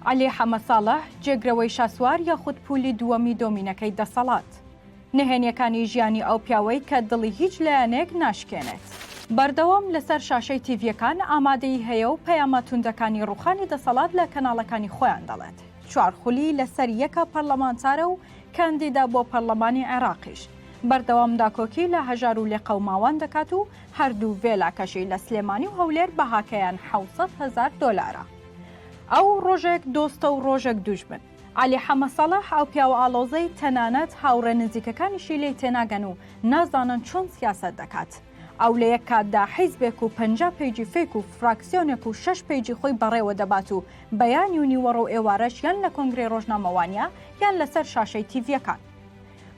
عەلی حەمەساڵح، جێگرەوەی شاسوار یاخود پولی دووەمی دۆمینەکەی دەسەڵات. نهێنیەکانی ژیانی ئەو پیاوەی کە دڵی هیچ لایەنێک ناشکێنێت. بەردەوام لەسەر شاشەی تیڤیەکان ئامادەیی هەیە و پەیامە توندەکانی ڕوخانی دەسەڵات لە کەناڵەکانی خۆیان دەڵێت. چوار خولی لەسەر یەکە پەرلەمانتارە و کاندیدە بۆ پەرلەمانی عێراقیش. بەردەوام داکۆکی لە هەژار و لێقەوماوان دەکات و هەردوو ڤێلاکەشی لە سلێمانی و هەولێر بەهاکەیان حەوت سەد هەزار دۆلارە. ئەو ڕۆژێک دۆستە و ڕۆژێک دوژمن. عەلی حەمە سەڵاح ئەو پیاوە ئاڵۆزەی تەنانەت هاوڕێ نزیکەکانیشی لێی تێناگەن و نازانن چۆن سیاسەت دەکات. ئەو لە یەک کاتدا حیزبێک و پەنجا پەیجی فەیک و فراکسیۆنێک و شەش پەیجی خۆی بەڕێوە دەبات و بەیانی و نیوەڕۆ و ئێوارەش یان لە کۆنگرەی ڕۆژنامەوانیا یان لەسەر شاشەی تیڤیەکان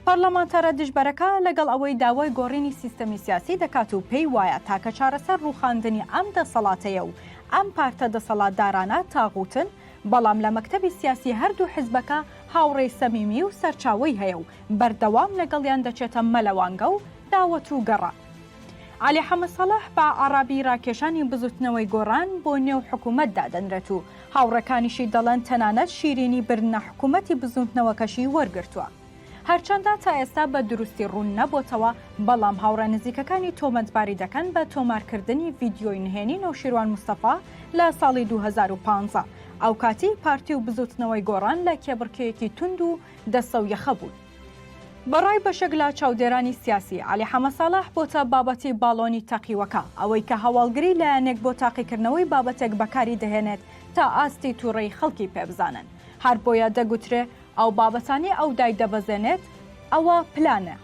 پەرلەمانتارە دژبەرەکە لەگەڵ ئەوەی داوای گۆڕینی سیستەمی سیاسی دەکات و پێی وایە تاکە چارەسەر ڕووخاندنی ئەم دەسەڵاتەیە و ئەم پارتە دەسەڵاتدارانە تاغوتن، بەڵام لە مەکتەبی سیاسی هەردوو حزبەکە هاوڕێی سەمیمی و سەرچاوەی هەیە و بەردەوام لەگەڵیان دەچێتە مەلەوانگە و داوەت و گەڕان. عەلی حەمەسەڵح بە عەڕابی ڕاکێشانی بزوتنەوەی گۆڕان بۆ نێو حکومەت دادەنرێت و هاوڕێکانیشی دەڵێن تەنانەت شیرینی برنە حکومەتی بزووتنەوەکەشی وەرگرتووە. هەرچەندە تا ئێستا بە دروستی ڕوون نەبۆتەوە، بەڵام هاوڕێ نزیکەکانی تۆمەتباری دەکەن بە تۆمارکردنی ڤیدیۆی نهێنی نەوشیروان مستەفا لە ساڵی دوو هەزار و پازدە، ئەوکاتی پارتی و بزووتنەوەی گۆڕان لە کێبڕکێیەکی توند و دەستەو یەخە بوون. بەڕای بەشێک لە چاودێرانی سیاسی، عەلی حەمە ساڵح بۆتە بابەتی باڵۆنی تەقیوەکە، ئەوەی کە هەواڵگری لایەنێک بۆ تاقیکردنەوەی بابەتێک بەکاری دەهێنێت تا ئاستی تووڕەی خەڵکی پێ بزانن، هەر بۆیە دەگوترێ ئەو بابەتانەی ئەو دایدەبەزێنێت ئەوە پلانە.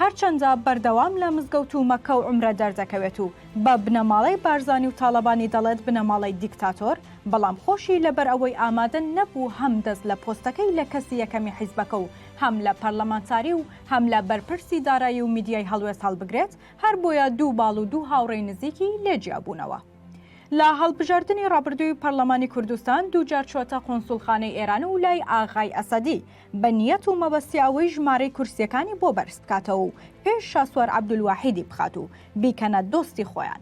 هەرچەندە بەردەوام لە مزگەوت و مەککە و عومرە دەردەکەوێت و بە بنەماڵەی بارزانی و تاڵەبانی دەڵێت بنەماڵەی دیکتاتۆر، بەڵام خۆشی لەبەر ئەوەی ئامادە نەبوو هەم دەست لە پۆستەکەی لە کەسی یەکەمی حیزبەکە و هەم لە پەرلەمانتاری و هەم لە بەرپرسی دارایی و میدیای هەڵوێست هەڵبگرێت، هەر بۆیە دوو باڵ و دوو هاوڕێی نزیکی لێ جیا بوونەوە. لە هەڵبژاردنی ڕابردووی پەرلەمانی کوردستان دوو جار چووەتە قونسوڵخانەی ئێران و لای ئاغای ئەسەدی بە نیەت و مەبەستی ئەوەی ژمارەی کورسییەکانی بۆ بەرز بکاتەوە و پێش شاسوار عەبدولواحیدی بخات و بیکەنە دۆستی خۆیان،